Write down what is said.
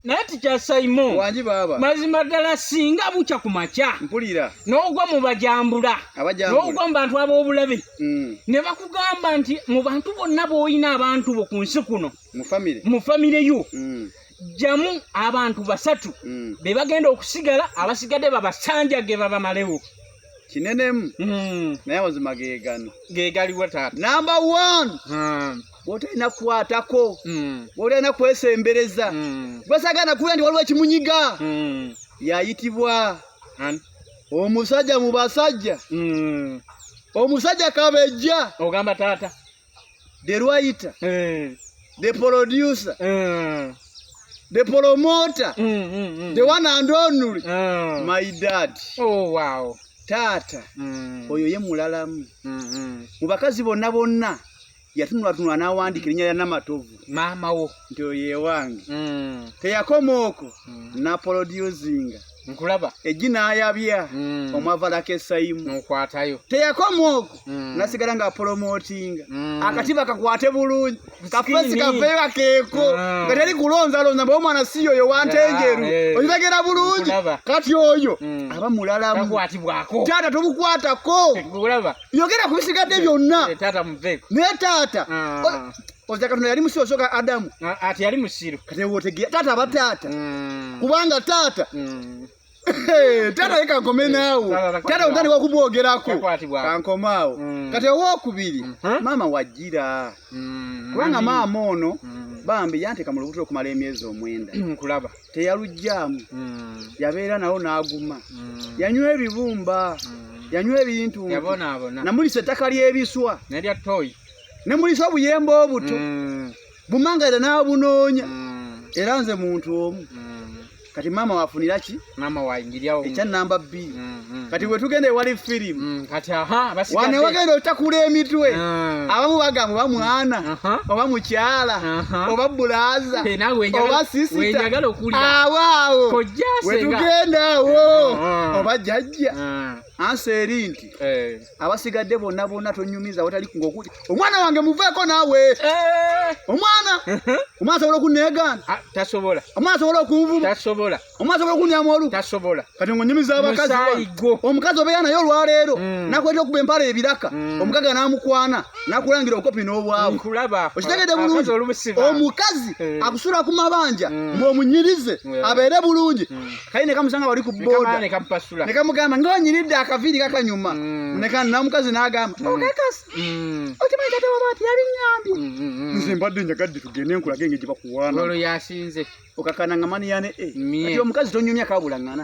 naye tikyasaimo wangi baaba mazima ddala singa bukya ku makya mpulira n'ogwa mu bajambula n'ogwa mu bantu ab'obulabe mm. ne bakugamba nti mu bantu bonna b'olina abantu bo ku nsi kuno mu famire yo mm. jamu abantu basatu mm. be bagenda okusigala abasigadde babasanjage babamalewo kinenemu naye amazima gegano gegaliwo taata namba one wotalina kukwatako mm. wotalina kwesembereza mm. gwesagana kuwulira nti waliwo ekimunyiga mm. yayitibwa omusajja mu basajja mm. omusajja kabejja ogamba taata the writer eh. the producer eh. the promoter mm, mm, mm. the one and only eh. my dad oh, wow. taata mm. oyo ye mulalamu mm, mm. mu bakazi bonna bonna yatunulatunula n'awandiika erinnya lya namatovu maama wo nti oyo ewange mm. teyakoma okwo mm. napolodyuzinga nkulaba ejji n'ayabya mm. omwavalako esayimu nokwatayo teyakoma okwo mm. nasigala nga apolomotinga mm. akatiba kakwate bulungi kafesi kaveera keeko mm. nga teri kulonzalonza mba omwana si yoyo wantenjeru yeah, yeah. ozibagera bulungi kati oyo mm. aba mulalamu taata tomukwatako yogera ku bisigadde byonna naye taata oza katonda yali musiru osoka adamu ati yali musiru katewotegera taata aba taata mm. kubanga taata mm. tata ye kankome naawo tata otani wakubwogerako kankome awo mm. kati owokubiri mm-hmm. maama wajira mm-hmm. kubanga maama ono mm-hmm. bambi yanteka mu lubuto okumala emyezi omwenda kulaba teyalugyamu mm. yabeera nawo n'aguma mm. yanywa ebibumba mm. yanywa ebintu namulisa ettaka ly'ebiswa nemulisa obuyemba obuto mm. bumanga era n'abunoonya mm. era nze muntu omu mm. kati maama wafunira ki ekya namba bbiri mm. mm. kati wetugenda ewali firimu mm, kati aha wane wagenda otakula emitwe ah. abamu bagamu oba mwana oba mukyala oba bulaza oba sisita awo awo wetugenda awo ah. oba jajja ah. ansa eri nti eh. abasigadde bonna bonna tonyumiza watali ngaokuli omwana wange muveeko naawe eh. omwana omwana asobola okunneegaana tasobola omwana asobola okunvuma tasobola omwana asobola okunyamu olu tasobola kati ngo nyumiza abakazi omukazi obeera naye olwaleero mm. nakweta okuba empala ebiraka mm. omukaga namukwana nakulangira obukopi n'obwawe okitegede bulungi omukazi eh. akusula ku mabanja mm. ng'omunyirize abeere bulungi kaye nekamusanga wali ku boda nekamugamba ngaonyiridde akaviiri kakanyuma neka namukazi nagamba okakasi Mm. okimanyi kati waba ati yabinyambye mm, mm, nze mbadde njagadde tugende nkulaga engeri gye bakuwaana olwo yasinze okakana nga maniyane eh. omukazi tonyumya kabulangana